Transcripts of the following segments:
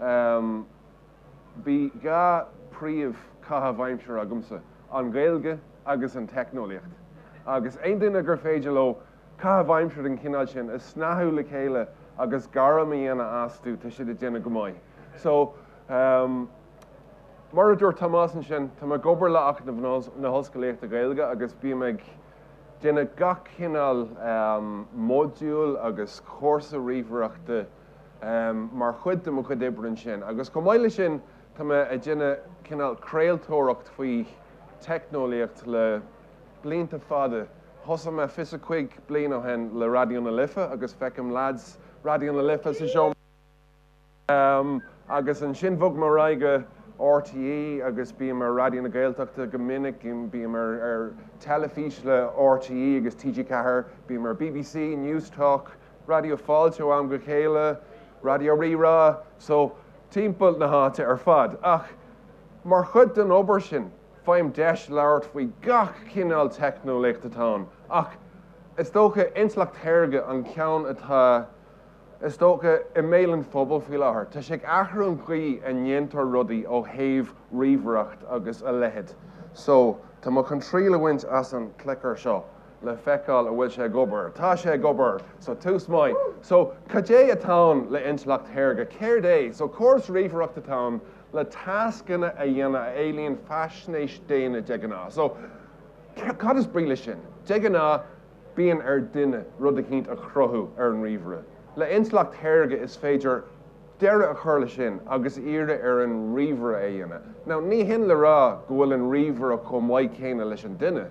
Um Bhí dhá príomh caitheamh aimsire agamsa, an Ghaeilge agus an teicneolaíocht. Agus aon duine gur féidir leo caitheamh aimsire den chineál sin a shnáthadh le chéile agus gairm a dhéanamh astu, tá siad ag déanamh go maith. So, um mar a dúirt Tomás ansin, tá mé ag obair le Acadamh na hOllscolaíochta Gaeilge agus bím ag déanamh gach cineál um modúl agus cúrsa ríomhaireachta, mar chuid de mo chuid oibre ansin. Agus chomh maith leis sin, tá mé ag déanamh cineál craoltóireacht faoi teicneolaíocht le blianta fada. Thosaigh mé fiche's a cúig bliain ó shin le Raidió na Life agus feicim leaids Raidió na Life sa seomra. Agus ansin bhog mé ar aghaidh go RTÉ agus bím ar Raidió na Gaeltachta go minic, bím ar teilifís le RTÉ agus TG4, bím ar BBC Newstalk, Raidió Fáilte ó am go chéile, Raidió Rí-Rá, so timpeall na háite ar fad. Ach mar chuid den obair sin, faighim deis labhairt faoi gach cineál teicneolaíocht atá ann, ach is dócha Intleacht Shaorga an ceann atá is dócha i mbéal an phobail faoi láthair. Tá sé ag athrú an chaoi a ndéantar rudaí ó thaobh ríomhaireacht agus a leithéid. So tá mé chun triail a bhaint as an clicker seo. le feiceáil an bhfuil sé ag obair. Tá sé ag obair! So, tús maith. So, cad é atá ann le intleacht shaorga? Céard é? So, córas ríomhaireachta atá ann le tascanna a dhéanamh a éilíonn faisnéis daonna de ghnáth. So, cad is brí leis sin? De ghnáth, bíonn ar duine rud eicínt a chruthú ar an ríomhaire. Le intleacht shaorga, is féidir. deireadh a chur leis sin agus iarradh ar an ríomhaire é a dhéanamh. Now, ní hin le rá go bhfuil an ríomhaire chomh maith céanna leis an duine,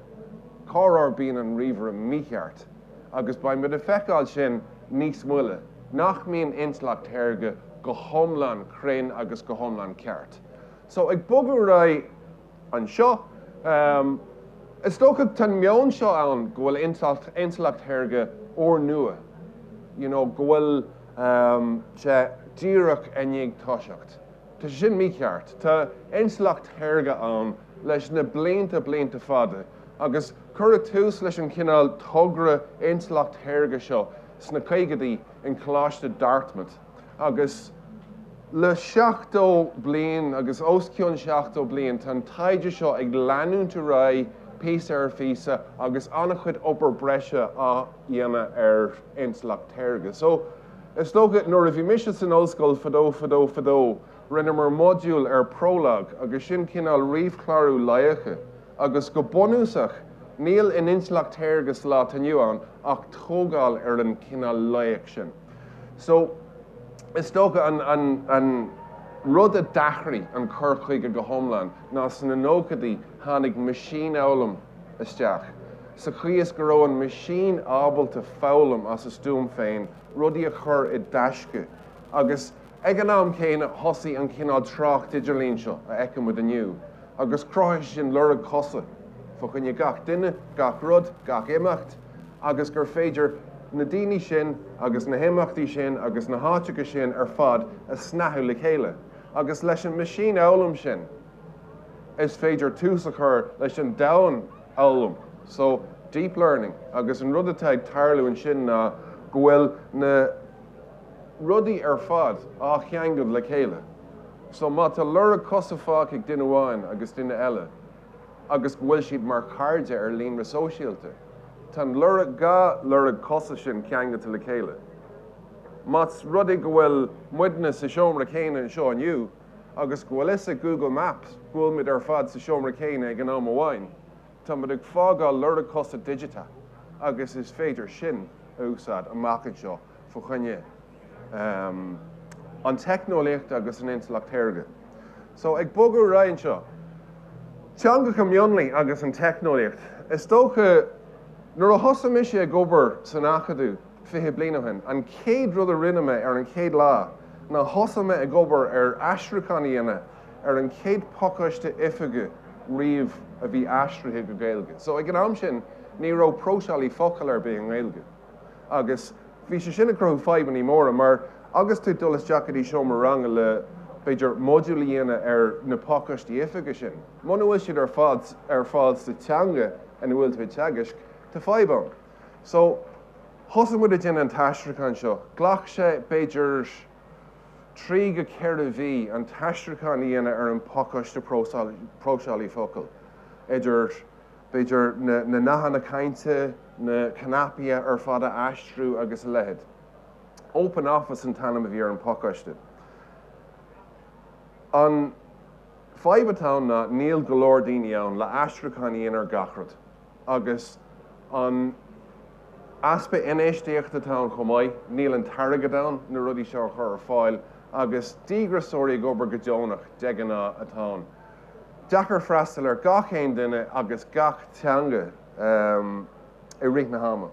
corruair bíonn an ríomhaire mícheart, agus beidh muid ag feiceáil sin níos moille, nach mbíonn intleacht shaorga go hiomlán cruinn agus go hiomlán ceart. So, ag bogadh ar aghaidh. anseo. Is dócha tá an meon seo ann go bhfuil intleacht shaorga úrnua, you know, go bhfuil sé díreach i ndiaidh toiseacht. Tá sé sin mícheart. Tá intleacht shaorga ann leis na blianta, blianta fada agus cuireadh tús leis an chineál togra intleacht shaorga seo sna caogaidí i gColáiste Dartmouth. agus le seachtó bliain agus os cionn seachtó bliain tá an taighde seo ag leanúint ar aghaidh píosa ar phíosa agus an-chuid obair breise á dhéanamh ar intleacht shaorga. So, is dócha, nuair a bhí mise san ollscoil fadó, fadó, fadó, rinneamar modúl ar Prolog agus sin cineál ríomhchlárú loighce agus go bunúsach níl in intleacht shaorga sa lá atá inniu ann ach tógáil ar an cineál loighic sin. So, is dócha, an rud a d'athraigh an cur chuige go hiomlán ná sna nóchaidí tháinig meaisínfhoghlaim isteach, sa chaoi is go raibh an meaisín ábalta foghlaim as a stuaim féin, rudaí a chur i dtaisce, agus ag an am céanna thosaigh an cineál trácht idirlín seo a fheicimid inniu, agus chruthaigh sé sin lorg coise fa choinne gach duine, gach rud, gach imeacht. agus gur féidir na daoine sin agus na himeachtaí sin agus na háiteacha sin ar fad a shnáthú le chéile, agus leis an meaisínfhoghlaim sin is féidir tús a chur leis an domhainfhoghlaim, so deep learning, agus an rud atá ag tarlú ansin ná go bhfuil na rudaí ar fad á gceangal le chéile, so má tá lorg coise fágtha ag duine amháin agus duine eile, agus go bhfuil siad mar chairde ar líonra sóisialta. Tá an lorg, dhá lorg coise sin ceangailte le chéile. Más rud é go bhfuil muidne sa seomra céanna anseo inniu agus go bhfuil a fhios ag Google Maps go bhfuil muid ar fad sa seomra céanna ag an am amháin, tá muid ag fágáil lorg coise digiteach agus is féidir sin a úsáid amach anseo fa choinne. an teicneolaíocht agus an intleacht shaorga. So, ag bogadh ar aghaidh anseo, teangacha mionlaigh agus an teicneolaíocht. Is dócha, nuair a thosaigh mise ag obair san Acadamh fiche bliain ó shin, an chéad rud a rinne mé ar an chéad lá ná thosaigh mé ag obair ar aistriúchán a dhéanamh ar an chéad phacáiste oifige riamh a bhí aistrithe go Gaeilge. So, ag an am sin, ní raibh próiseálaí focal ar bith i nGaeilge agus Bhí sé sin ag cruthú fadhbannaí móra mar agus tú ag dul isteach go dtí seomra ranga le, b'fhéidir, modúl a dhéanamh ar na pacáistí oifige sin, muna bhfuil siad ar fad sa teanga ina bhfuil tú ag teagaisc, tá fadhb ann. So, thosaigh muid ag déanamh an t-aistriúchán seo. Ghlac sé, b'fhéidir, trí go ceithre mhí an t-aistriúchán a dhéanamh ar an bpacáiste próiseálaí focal, idir. b'fhéidir, na nathanna cainte, na cnaipí ar fad a aistriú agus a leithéid. Open Office an t-ainm a bhí ar an phacáiste. An fadhb atá ann ná níl go leor daoine ann le aistriúchán a dhéanamh ar gach rud agus an easpa infheistíochta atá ann chomh maith, níl an t-airgead ann na rudaí seo a chur ar fáil agus díograiseoirí ag obair go deonach de ghnáth atá ann. deacair freastal ar gach aon duine agus gach teanga i rith na hama.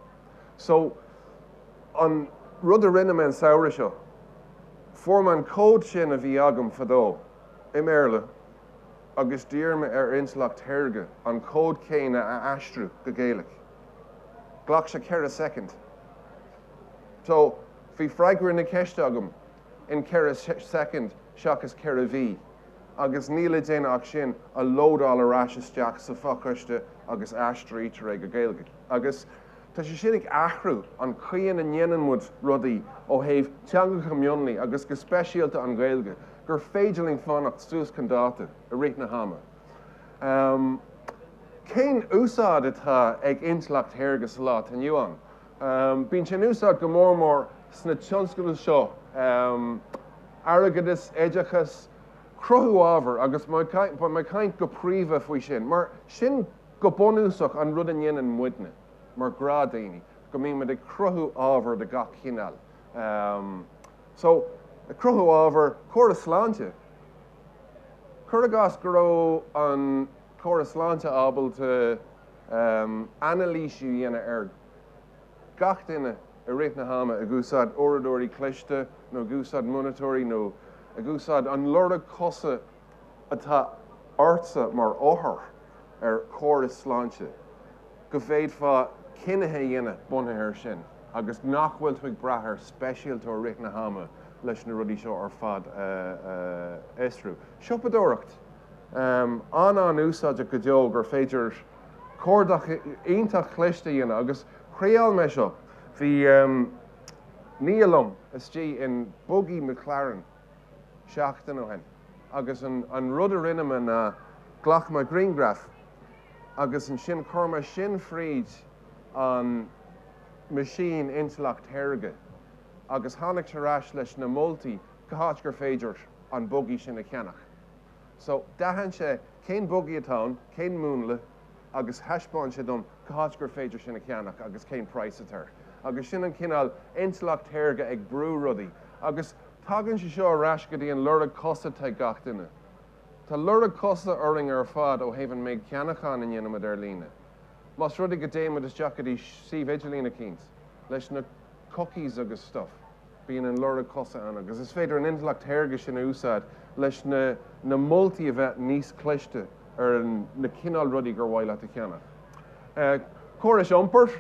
So, an rud a rinne mé an samhradh seo, fuair mé an cód sin a bhí agam fadó i mBéarla agus d'iarr mé ar intleacht shaorga an cód céanna a aistriú go Gaeilg. Ghlac sé ceithre soicind. So, bhí freagra na ceiste agam. in 4 soicind seachas 4 mhí agus níl le déanamh ach sin a lódáil ar ais isteach sa phacáiste agus aistrítear é go Gaeilge agus tá sé sin ag athrú an chaoi ina ndéanann muid rudaí ó thaobh teangacha mionlaigh agus go speisialta an Ghaeilge gur féidir linn fanacht suas chun dáta i rith na hama. Cén úsáid atá ag intleacht shaorga sa lá atá inniu ann? Bíonn sé in úsáid go mór mór sna tionscadail seo, airgeadas, oideachas, cruthú ábhair, agus mé ag caint go príomha faoi sin, mar sin go bunúsach an rud a ndéanann muidne mar ghnáthdhaoine, go mbímid ag cruthú ábhair de gach chineál. So, cruthú ábhair córas sláinte, cur i gcás go raibh an. córas sláinte ábalta anailís a dhéanamh ar gach duine i rith na hama ag úsáid uaireadóirí cliste nó ag úsáid monatóirí nó ag úsáid an lorg cosa atá ortsa mar othar ar chóras sláinte, go bhféadfadh cinnithe a dhéanamh bunaithe air sin agus nach bhfuil tú ag brath ar speisialtóir i rith na hama leis na rudaí seo ar fad a fhiosrú. Siopadóireacht. an-an-úsáideach go deo gur féidir cuardach iontach cliste a dhéanamh agus thriáil mé seo. Bhí nia liom istigh in buggy McLaren seachtain ó shin agus an rud a rinne mé ná ghlac mé grianghraf agus ansin chuir mé sin thríd an meaisín intleacht shaorga agus tháinig sé ar ais leis na moltaí cá háit gur féidir an buggy sin a cheannach. So, d'aithin sé cén buggy atá ann, cén múnla agus thaispeáin sé dom cá háit gur féidir sin a cheannach agus cén praghas atá air. Agus sin an cineál intleacht shaorga ag brú rudaí. Agus tagann sé seo ar ais go dtí an lorg cosa atá ag gach duine. Tá lorg cosa orainn ar fad ó thaobh an méid ceannachán a ndéanaimid ar líne. Más rud é go dtéimid isteach go dtí suíomh idirlín eicínt, leis na cookies agus stuff, Bíonn an lorg cosa ann agus is féidir an intleacht shaorga sin a úsáid leis na moltaí a bheith níos cliste ar na cineál rudaí gur mhaith leat a cheannach. Córais iompair,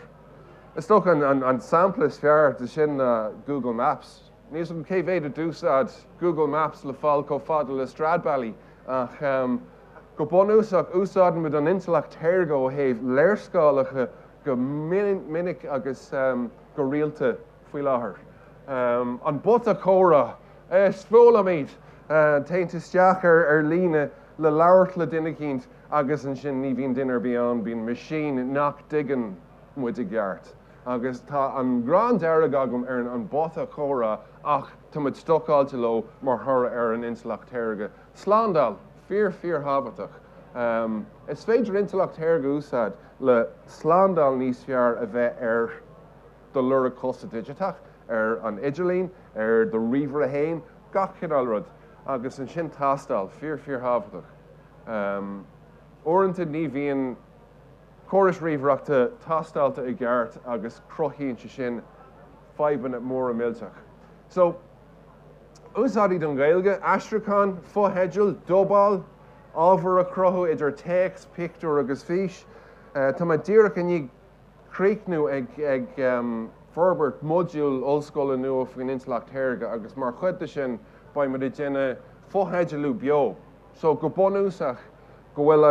is dócha an sampla is fearr de sin ná Google Maps. Níl 's agam cé mhéad a d'úsáid Google Maps le fáil chomh fada le Stradbally ach go bunúsach úsáidimid an intleacht shaorga ó thaobh léarscáileacha go minic agus go rialta. faoi láthair. An bota comhrá a speolaimid, téann tú isteach ar líne le labhairt le duine eicínt agus ansin ní bhíonn duine ar bith ann, bíonn machine nach dtuigeann muid i gceart. Agus tá an ghráin dearg agam ar an mbota comhrá ach tá muid stocáilte leo mar thoradh ar an intleacht shaorga. Slándáil, fíor fíor thábhachtach. Is féidir intleacht shaorga a úsáid le slándáil níos fearr a bheith ar. do lorg cosa digiteach ar an idirlíon, ar do ríomhaire féin, gach cineál rud, agus ansin tástáil, fíor, fíorthábhachtach. Uaireanta ní bhíonn córais ríomhaireachta tástáilte i gceart agus cruthaíonn sé sin fadhbanna móra millteacha. So, úsáidí don Ghaeilge, aistriúchán, fotheidil, dubáil, ábhar a chruthú idir téacs, pictiúir agus fís. Tá mé díreach i ndiaidh críochnú ag forbairt modúl ollscoile nua faoin Intleacht Shaorga agus mar chuid de sin beidh muid ag déanamh fotheidealú beo so go bunúsach go bhfuil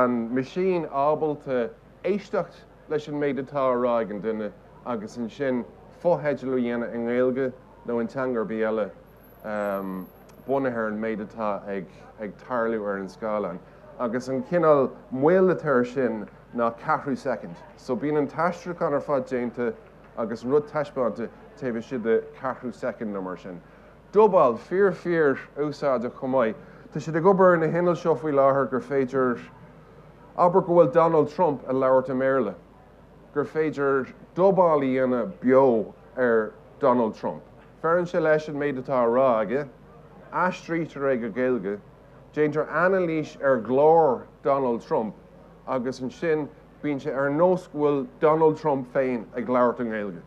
an machine ábalta éisteacht leis an méid atá á rá ag an duine agus ansin fotheidealú a dhéanamh i nGaeilge nó in teanga ar bith eile. bunaithe ar an méid atá ag tarlú ar an scáileán, agus an cineál moill atá air sin ná ceathrú soicind. So bíonn an t-aistriúchán ar fad déanta agus rud taispeánta taobh istigh de cheathrú soicind nó mar sin. Dubáil fíor fíor úsáideach chomh maith. Tá siad ag obair ar na hinnill seo faoi láthair gur féidir, abair go bhfuil Donald Trump ag labhairt i mBéarla, gur féidir dubáil a dhéanamh beo ar Donald Trump. Feileann sé leis an méid atá á rá aige, aistrítear é go Gaeilge, déantar anailís ar ghlór Donald Trump agus ansin bíonn sé ar nós go bhfuil Donald Trump féin ag labhairt i nGaeilge.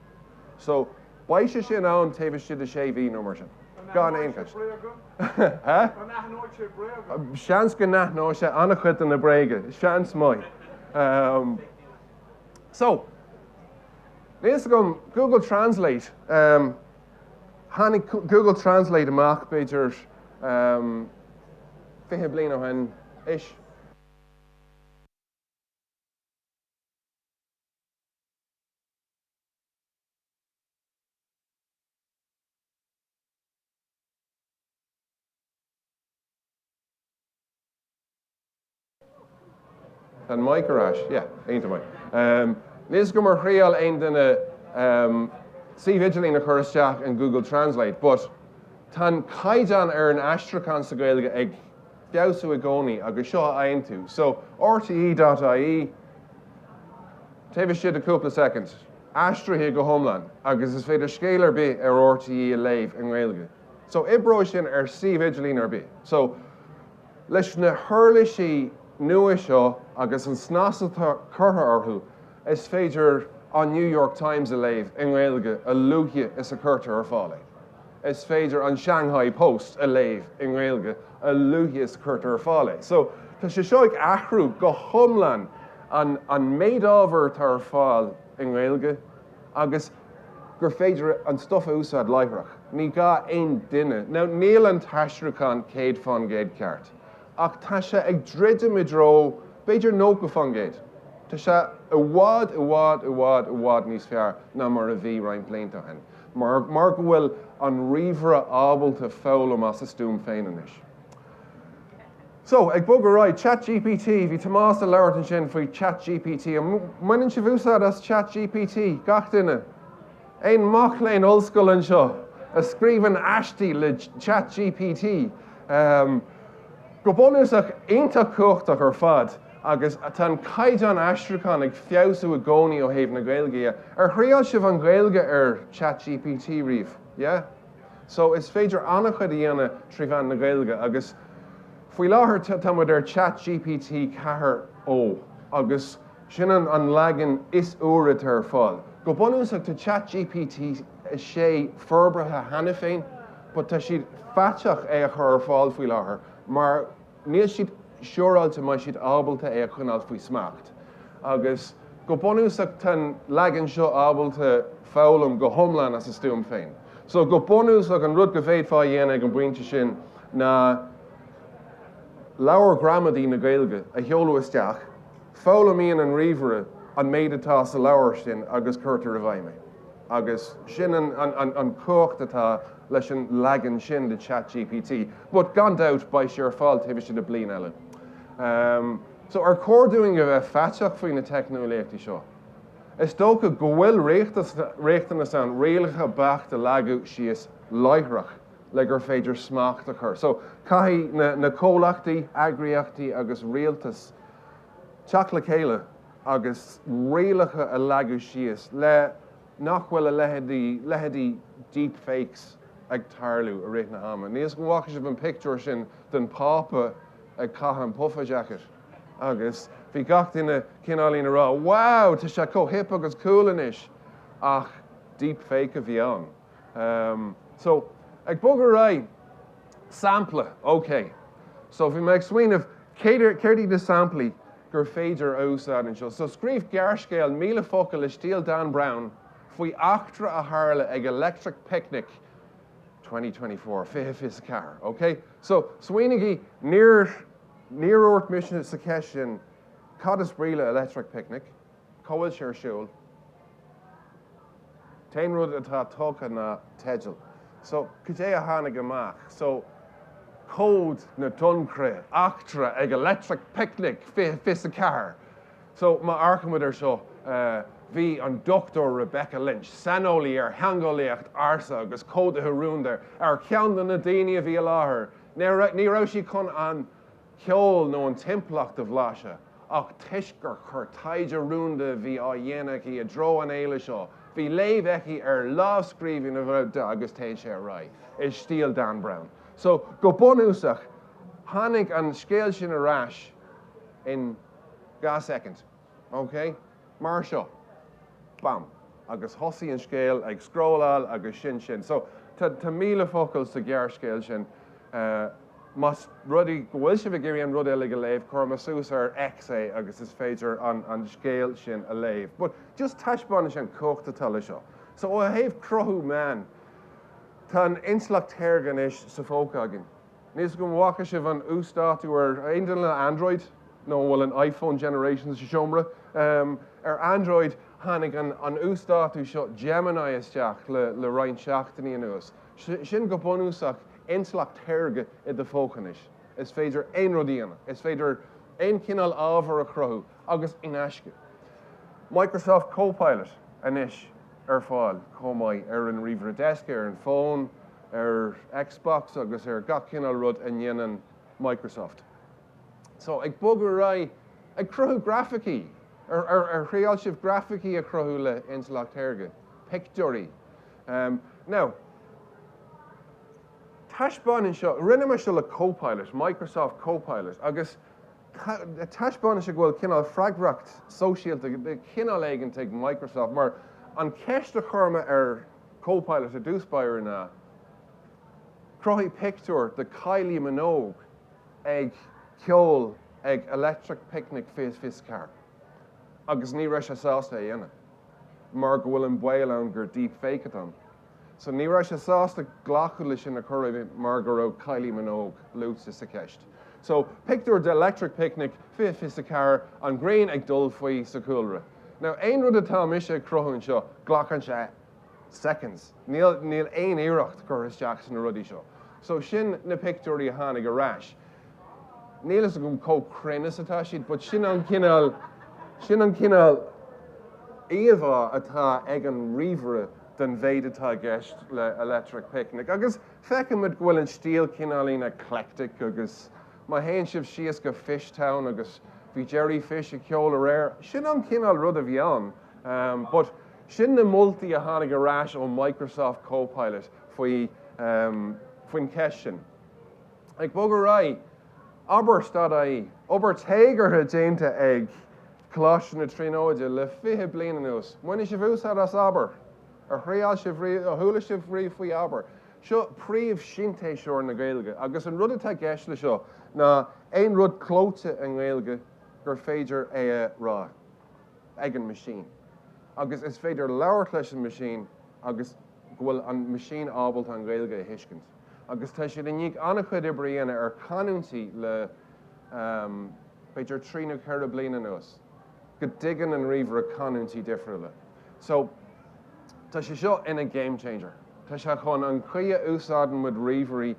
So, beidh sé sin ann taobh istigh de sé mhí nó mar sin, gan aon cheist. Seans go n-aithneoidh sé an-chuid de na bréaga, seans maith. So. Níl fhios agam, Google Translate, em, tháinig Google Translate amach b'fhéidir, em, fiche bliain ó shin, ish. Níl a fhios agam ar thriail aon duine suíomh idirlín a chur isteach in Google Translate, but tá an caighdeán ar an aistriúchán sa Ghaeilge ag feabhsú i gcónaí agus seo a fhaigheann tú. So, rte dot ie, taobh istigh de chúpla soicind, aistrithe go hiomlán agus is féidir scéal ar bith ar rte a léamh i nGaeilge. So, oibreoidh sin ar suíomh idirlín ar bith. So, Leis na huirlisí nua seo agus an snas atá curtha orthu, is féidir an New York Times a léamh i nGaeilge a luaithe is a chuirtear ar fáil é. Is féidir an Shanghai Post a léamh i nGaeilge a luaithe is a chuirtear ar fáil é. So, tá sé seo ag athrú go hiomlán an méid ábhair atá ar fáil i nGaeilge agus, gur féidir an stuif a úsáid láithreach, ní gá aon duine, níl an t-aistriúchán céad faoin gcéad ceart, ach tá sé ag druidim i dtreo b'fhéidir nócha faoin gcéad. Tá sé i bhfad, i bhfad, i bhfad, i bhfad níos fearr ná mar a bhí roinnt blianta ó shin, mar go bhfuil an ríomhaire ábalta foghlaim as a stuaim féin anois. So, ag bogadh right, ChatGPT, bhí Tomás ag labhairt ansin faoi ChatGPT. An mbaineann sibh úsáid as ChatGPT, gach duine? Aon mac léinn ollscoile anseo a scríobhann aistí le ChatGPT? Go bunúsach, iontach cumhachtach ar fad agus tá an caighdeán aistriúcháin ag feabhsú i gcónaí ó thaobh na Gaeilge de. Ar thriail sibh an Ghaeilge ar ChatGPT riamh? Yeah? So, is féidir an-chuid a dhéanamh trí mheán na Gaeilge agus faoi láthair tá muid ar Chat GPT 4 o agus sin an leagan is úire atá ar fáil. Go bunúsach tá Chat GPT 6 forbartha cheana féin but tá siad faiteach é a chur ar fáil faoi láthair mar, níl siad siúráilte an mbeidh siad ábalta é a choinneáil faoi smacht. Agus go bunúsach tá an leagan seo ábalta foghlaim go hiomlán as a stuaim féin. So go bunúsach an rud go bhféadfá a dhéanamh ag an bpointe sin ná leabhar gramadaí na Gaeilge a sheoladh isteach, foghlaimíonn an ríomhaire an méid atá sa leabhar sin agus cuirtear i bhfeidhm é. agus sin an cumhacht atá leis an leagan sin de ChatGPT. But gan dabht, beidh sé ar fáil taobh istigh de bliain eile. So ar chóir dúinn a bheith faiteach faoi na teicneolaíochtaí seo? Is dócha go bhfuil riachtanas ann rialacha beacht a leagadh síos láithreach le gur féidir smacht a chur. So caithfidh na comhlachtaí, eagraíochtaí agus rialtas teacht le chéile. agus rialacha a leagadh síos le nach bhfuil a leithéidí deepfakes, ag tarlú i rith an ama. Níl a fhios agam an bhfaca sibh an pictiúr sin den Phápa ag caitheamh an puffer jacket agus bhí gach duine cineál ag rá wow tá sé chomh hip agus cool anois, ach deepfake a bhí ann. So, ag bogadh ar aghaidh, sampla, okay. So bhí mé ag smaoineamh céard iad na samplaí? gur féidir a úsáid anseo. So scríobh gearrscéal 1,000 focal i stíl Dan Brown faoi eachtra a tharla ag Electric Picnic 2024, fiche fiche a ceathair, OK? So, smaoinígí, níor dhúirt mise sa cheist sin cad is brí le electric picnic, Cá bhfuil sé ar siúl? An t-aon rud atá tugtha ná teideal. So, cad é a tháinig amach? So, cód na Donnchadha, eachtra ag Electric Picnic fiche fiche a ceathair. So, má amharcaimid ar seo, bhí an Dr Rebecca Lynch, saineolaí ar theangeolaíocht ársa agus códaithe rúnda, ar ceann de na daoine a bhí i láthair. Ní raibh sí chun an ceol nó an timpeallacht a bhlaiseadh ach toisc gur chuir taighde rúnda a bhí á dhéanamh aici i dtreo an fhéile seo bhí léamh aici ar lámhscríbhinn a ghoid agus téann sé ar aghaidh i stíl Dan Brown so go bunúsach tháinig an scéal sin ar ais in dhá soicind. OK. Mar seo. Bam. Agus thosaigh an scéal ag scrolláil agus sin sin. So, tá míle focal sa ghearrscéal sin. Más rud é go bhfuil sibh ag iarraidh an rud uilig a léamh, cuirfidh mé suas ar X é agus is féidir an scéal sin a léamh. But, just taispeánais an chumhacht atá leis seo. So, ó thaobh cruthú meán, tá an intleacht shaorga anois sa phóca againn. Níl a fhios agam an bhfaca sibh an uasdátú aon duine le Android nó an bhfuil an iPhone generation sa seomra? Ar Android tháinig an uasdátú seo Gemini isteach le roinnt seachtainí anuas. Sin go bunúsach intleacht shaorga i do phóca anois. Is féidir aon rud a dhéanamh. Is féidir aon chineál ábhair a chruthú agus in aisce. Microsoft Copilot anois ar fáil chomh maith ar an ríomhaire deisce, ar an bhfón, ar Xbox agus ar gach cineál rud a ndéanann Microsoft. So, ag bogadh ar aghaidh, ag cruthú grafaicí! Ar, ar, ar thriáil sibh grafaicí a chruthú le intleacht shaorga? Pictiúirí. Um, now, taispeánann seo, rinne mé seo le Copilot, Microsoft Copilot, agus taispeánann sé go bhfuil cineál freagracht sóisialta de chineál éigin ag Microsoft, mar an ceist a chuir mé ar Copilot i dtús báire ná cruthaigh pictiúr de Kylie Minogue ag ceol ag Electric Picnic 2024 agus ní raibh sé sásta é a dhéanamh mar go bhfuil an baol ann gur deep fake atá ann. So ní raibh sé sásta glacadh leis sin a chruthú mar go raibh Kylie Minogue luaite sa cheist. So, pictiúr d'Electric Picnic 2024, an ghrian ag dul faoi sa chúlra. Now, aon rud atá mise ag cruthú anseo, glacann sé seconds. Níl, níl aon iarracht curtha isteach sna rudaí seo. So, sin na pictiúirí a tháinig ar ais. Níl fhios agam chomh cruinn is atá siad, but sin an cineál, sin an cineál íomhá atá ag an ríomhaire den mhéid atá i gceist le Electric Picnic. Agus Feicimid go bhfuil an stíl cineáilín eclectic agus má théann sibh síos go Fish Town agus bhí Jerry Fish ag ceol aréir, sin an cineál rud a bhí ann but sin na moltaí a tháinig ar ais ó Microsoft Copilot faoi faoin cheist sin. Ag bogadh ar aghaidh, abair, stad é, obair téagartha déanta ag Coláiste na Tríonóide le fiche bliain anuas, ar bhain sibh úsáid as abair. Ar thriáil sibh riamh, nó ar chuala sibh riamh faoi abair, seo príomh-shintéiseoir na Gaeilge, agus an rud atá i gceist le seo ná aon rud clóite i nGaeilge gur féidir é a rá ag an meaisín, agus is féidir labhairt leis an meaisín agus go bhfuil an meaisín ábalta an Ghaeilge a thuiscint. Agus tá siad i ndiaidh an-chuid oibre a dhéanamh ar chanúintí le b'fhéidir trí nó ceithre bliana anuas, go dtuigeann an ríomhaire canúintí difriúla. So, tá sé seo ina game changer. Tá sé chun an chaoi a úsáideann muid ríomhairí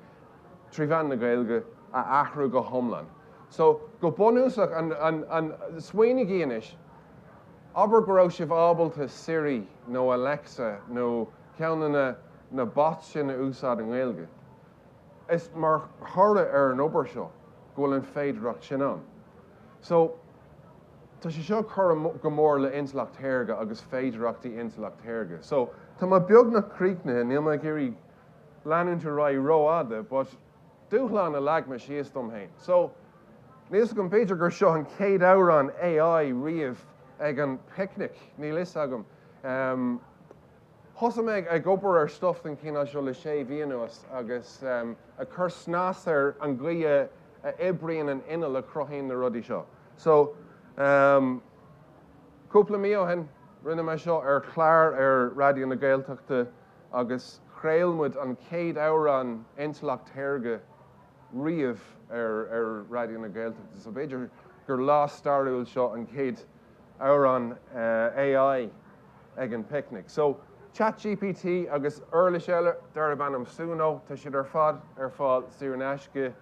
trí mheán na Gaeilge a athrú go hiomlán. So, go bunúsach, an, an, an, smaoinígí anois, abair go raibh sibh ábalta Siri nó Alexa nó ceann de na, na bots sin a úsáid i nGaeilge. Is mar thoradh ar an obair seo go bhfuil an féidearthacht sin ann. So, tá sé seo ag cur go mór le intleacht shaorga agus féidireachtaí intleacht shaorga. So, tá mé beagnach críochnaithe, níl mé ag iarraidh leanúint ar aghaidh ró-fhada, but dúshlán a leag mé síos dom féin. So, níl fhios agam, b'fhéidir gur seo an chéad amhrán AI riamh ag an Picnic, níl fhios agam. Thosaigh mé ag obair ar stuif den chineál seo le sé mhí anuas agus ag cur snas ar an gcaoi a oibríonn an inneall a chruthaíonn na rudaí seo. So, cúpla mí ó shin, rinne mé seo ar chlár ar Raidió na Gaeltachta agus chraol muid an chéad amhrán Intleacht Shaorga riamh ar Raidió na Gaeltachta. So b'fhéidir gur lá stairiúil seo, an chéad. amhrán AI ag an bpicnic. So, ChatGPT agus uirlis eile darb ainm Suno, tá siad ar fad ar fáil saor in aisce.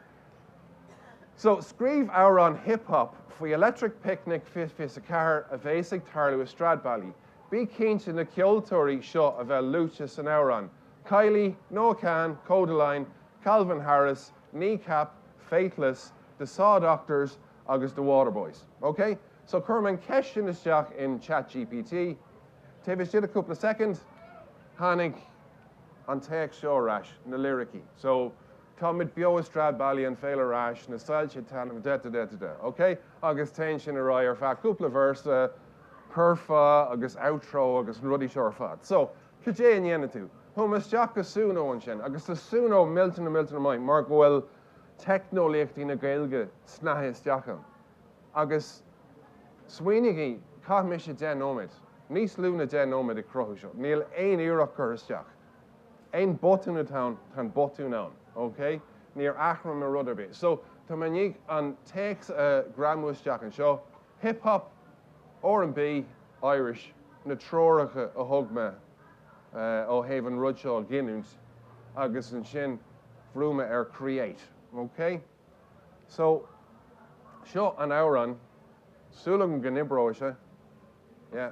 So, scríobh amhrán hip-hop faoi Electric Picnic fiche fiche a ceathair a bhéas ag tarlú i Stradbally. Bí cinnte na ceoltóirí seo a bheith luaite san amhrán, Kylie, Noah Kahan, Kodaline, Calvin Harris, Kneecap, Faithless, The Saw Doctors, agus The Waterboys. OK, so chuir mé an cheist sin isteach in Chat GPT. Taobh istigh de chúpla soicind, tháinig an téacs seo ar ais, na liricí. So, Táimid beo i Stradbally, an féile ar ais, na soilse ag taitneamh, da-da-da-da-da. OK? Agus téann sin ar aghaidh ar feadh cúpla véarsa, curfá agus outro agus na rudaí seo ar fad. So, cad é a ndéanann tú? Chuaigh mé isteach go Suno ansin, agus tá Suno millteanach millteanach maith mar go bhfuil teicneolaíochtaí na Gaeilge snite isteach ann. Agus smaoinígí, chaith mise deich nóiméad, níos lú ná deich nóiméad ag cruthú seo, níl aon iarracht curtha isteach, aon botún atá ann, tá an botún ann, ok? Níor athraigh mé rud ar bith. So, tá mé i ndiaidh an téacs a ghreamú isteach anseo, hip hop, R and B, Irish, na treoracha a thug mé, ó thaobh an rud seo a ghiniúint agus ansin bhrúigh mé ar create ok so seo an amhrán súil agam go n-oibreoidh sé yeah.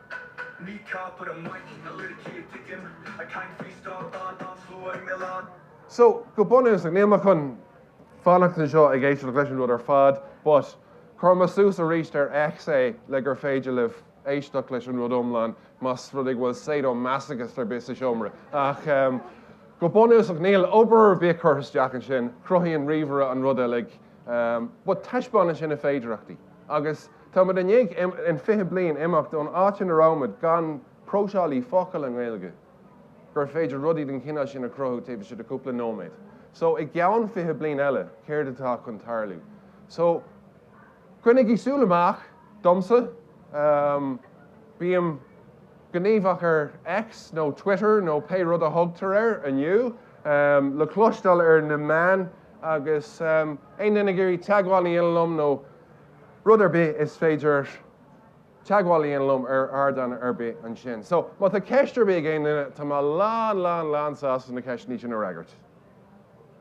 Ní ceapair an mhaith na liricí a titim, I can't freestyle dá dán slua i milleán. So, go bunús, níl mé chun fanacht anseo ag éisteacht leis an rud ar fad, but chuir mé suas arís ar X é le gur féidir libh éisteacht leis an rud iomlán más rud é go bhfuil sadomasachas ar bith sa seomra. Ach, go bunús, níl obair ar bith curtha isteach ansin, chruthaigh an ríomhaire an rud uilig, but taispeánann sin na féidearthachtaí agus, Táimid i ndiaidh 20 bliain imeacht ón áit ina rabhamaid, gan próiseálaí focal i nGaeilge, gur féidir rudaí den chineál sin a chruthú taobh istigh de chúpla nóiméad. So, i gceann 20 bliain eile, céard atá chun tarlú? So, coinnigí súil amach, domsa, bím gníomhach ar X nó Twitter nó pé rud a thugtar air inniu, le cloisteáil ar na meáin agus aon duine ag iarraidh teagmháil liom nó rud ar bith is féidir, teagmháil liom ar ardán ar bith ansin. So, má tá ceist ar bith ag aon duine, tá mé lán, lán, lán sásta na ceisteanna sin a fhreagairt.